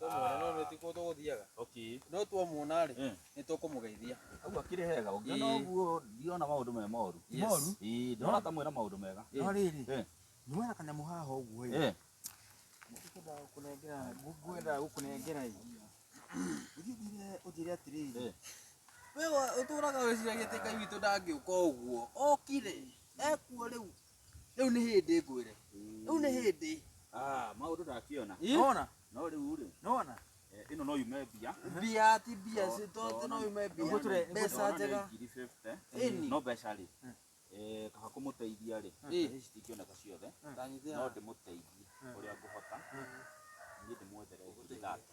Tũmwona no nĩ ti kũndũ gũthiaga. Okay. No twamuona rĩ, Eh. nĩ tũkũmũgeithia. Hau akĩrĩ hega ũngĩona Ĩĩ. ũguo ndiona maũndũ me moru Yes. Moru? Ĩĩ, ndĩrona ta mwĩna maũndũ mega No rĩrĩ, Eh. nĩwona kanyamũ haha ũguo ĩ. Eh, Ngwendaga gũkũnengera, ngwendaga gũkũnengera ĩ. Ũthiĩ ũnjĩre- ũnjĩre atĩrĩrĩ. Eh. Wewe ũtũraga wĩciragia atĩ Ngai witũ ndangĩũka ũguo. Okire. Ekuo rĩu. Rĩu nĩ hĩndĩ ngwĩre. Rĩu nĩ hĩndĩ. Ah, maũndũ ndakiona. Nona? No rĩu rĩ. Nona? Eh, ĩno no yume mbia. Mbia ti mbia si to no yume mbia. Ũguo tũre mbeca njega. Ngiri 50. Ĩni. No mbeca rĩ. Eh, kaba kũmũteithia rĩ. Ici citingĩoneka ciothe. No ndĩmũteithie ũrĩa ngũhota. Niĩ ndĩmwethere ngiri thate.